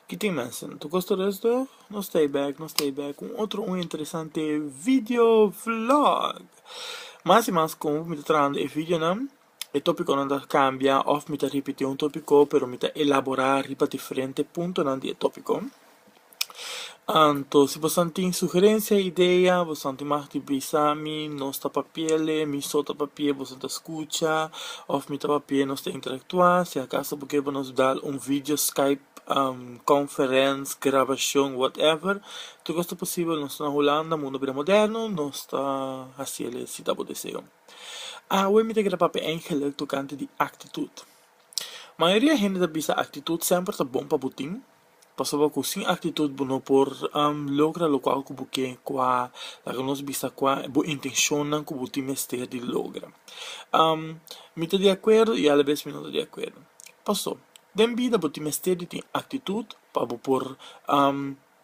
Kitin mes no ta kosta rest dor no stay back no stay back un otro un interesante video vlog mas y mas como mi ta trabando e videonan e topiconan ta cambia of mi ta repeti un topico pero mi ta elabora riba diferente puntonan di e topico. Anto, si bosan tin sugerencia, idea, bosan tin mag di bisa mi, nos ta papiele, mi so ta papie, bosan ta scucha, of mi ta papie, nos ta interactua, si acaso bo kier bo nos dal un video skype conference, grabacion, whatever, tur cos ta posibel, nos ta na Hulanda, mundo a bira moderno, nos ta haciele si ta bo deseo. Awe mi ta kere papia Angela tocante di actitud. Mayoria hende ta bisa actitud semper ta bon pa bo tin. Pasobra ku sin aktitut bo no por logra lokual ku bo ke kua laga nos bisa kua e bo intenshonnan ku bo tin mester di logra. Mi ta di akuerdo i alabes mi no ta di akuerdo. Paso, den bida bo tin mester di tin aktitut pa bo por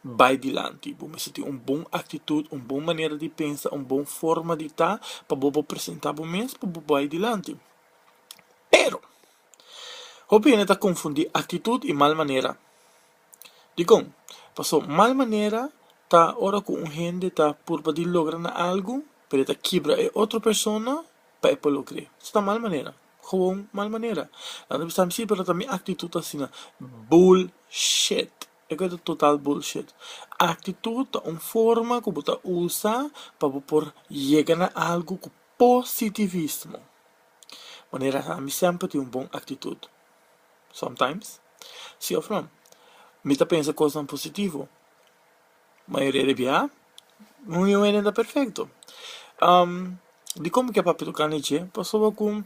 bai dilanti. Bo mester tin un bon aktitut, un bon manera di pensa, un bon forma di ta pa bo por presentá bo mes pa bo bai dilanti. Pero. Hopi hende ta konfundí aktitut i mal manera. Dikon? Paso, mal manera ta ora ku un hende ta purba di logra na algu, pero e ta kibra e otro persona pa e por lo kree. Esei ta mal manera, gewoon mal manera. Nan ta bisa, sí, pero ta mi aktitut ta asina. Bullshit! E ku e ta total bullshit. Aktitut ta un forma ku bo ta usa pa bo por yega na algu ku positivismo. Manera sa mi semper tin un bon aktitut. Sometimes, si òf no. Mi ta pensa kosnan positivo. Mayoria di biaha, no un hende ta perfekto. Dikomo ke papia toka na e dje? Pasobra ku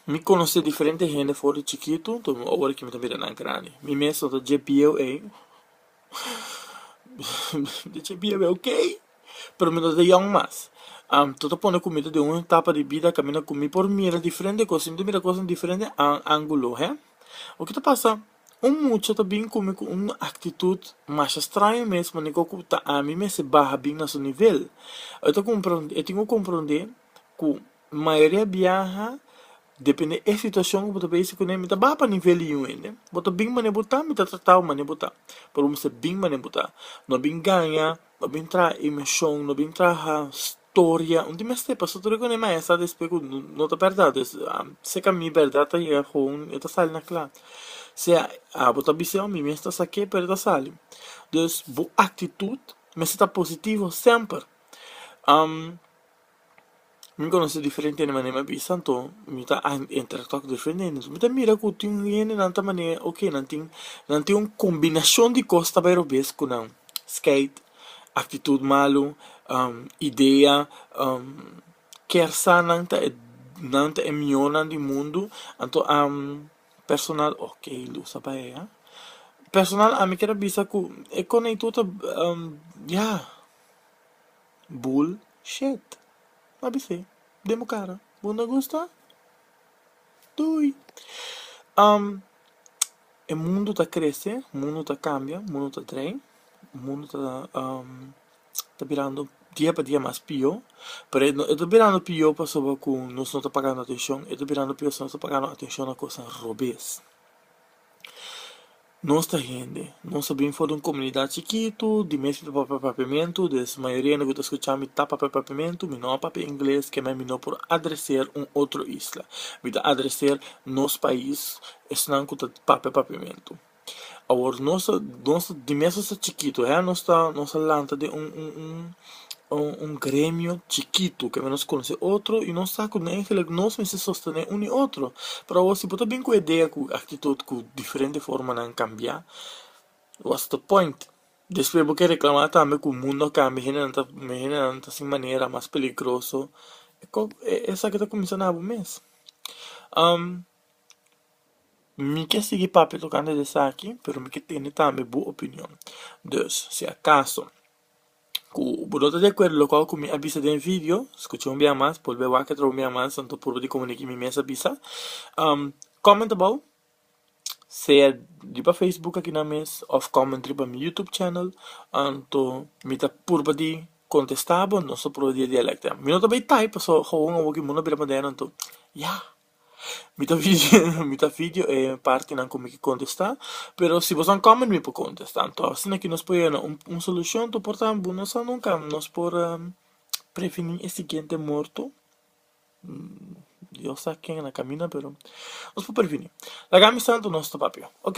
mi konosé diferente hende for di chikitu, ora ku mi ta mira nan grandi. Mi mes no ta dje bieu ei. Di che biebe ok, pero mi no ta yòn mas. Tò ta pone kumida den un etapa di bida ku mi na kumi por mira diferente kos, mi ta mira kos den diferente ángulo, he. Loke ta pasa, un mucha ta bin kumi ku un aktitut masha straño mes, manera kor ku ta ami mester baha bin na su nivel. E ta e tin ku komprondé ku Mayoria biaha depende e situacion cu bo ta besi cune, mi ta baha pa nivel di un hende, bo ta bin mane bo ta, mi ta trata bo mane bo ta, pero bo mester bin mane bo ta, no bin gaña, no bin traha emocion, no bin traha storia, no tin mester pa sa tur e cune maestra ta esplika cu no ta berdad es, si ca mi berdad ta yega gewoon e ta sali na cla, sea abo ta bisa oh mi mes ta sa ke pero e ta sali, dus bo actitud mester ta positivo semper. mi conoce diferente hende manera mi a bisa anto mi ta interactua cu diferente hende so mi ta mira cu tin hende nan ta mane ok nan tin nan tin un combinacion di cos ta bay robes cu nan skate actitud malo idea ker sa nan ta e nan ta e miornan di mundo anto personal ok lo usa pa e ha personal ami quier a bisa cu e conei tur ta ya. Bull shit. A bis'é den bo kara. Bo no gusta? Doei. Um e mundo ta krese, mundo ta kambia, mundo ta trei, mundo ta um ta birando dia pa dia mas pio, pero e no ta birando pio pasobra ku nos no ta pagando atenshon, e ta birando pio pasobra nos ta pagando atenshon na kos robes. Nos ta hende. Nos a bin for di un komunidat chikitu, di mes p'e papia papiamentu, des mayoria hende ku ta skucha mi ta papia papiamentu, mi no a papia ingles, kemei mi no por adreser un otro isla. Mi ta adreser nos pais, esnan ku ta papia papiamentu. Awor, nos ta, nos ta, di mes nos ta chikitu, he, nos ta, nos a lanta den un, un, un. un gremio chikitu ke nos konosé otro i nos sa ku den Engeles nos mester sostené un i otro pero awo si bo ta bin ku idea ku aktitut ku diferente formanan kambia wats de point despues bo ke reklamá tambe ku mundo a kambia hendenan ta hendenan ta sin manera mas peligroso esaki ta kuminsá na bo mes mi ke sigui papia tokante de esaki pero mi ke tende tambe bo opinion dus si akaso. Cu bo no ta di acuerdo locual cu mi a bisa den video, scucha un bia mas, bolbe wak atraba un bia mas, anto purba di como mi mes a bisa. Comment abou, sea riba Facebook akinan mes of comment riba mi YouTube channel, anto mi ta purba di contesta bo, nos ta purba di dialecta. Mi no ta bay type, pasobra gawon awo ki mundo a bira moderno, anto ya! Mi ta video mi ta video e partinan ku mi ke kontestá, pero si bo sa un comment mi por kontestá, anto asina ke nos por yega na un solushon ta porta bo no sa nunka nos por previní e siguiente morto, Dios sa ken a na kaminda pero nos por previní, laga mi sa anto nos ta papia, ok.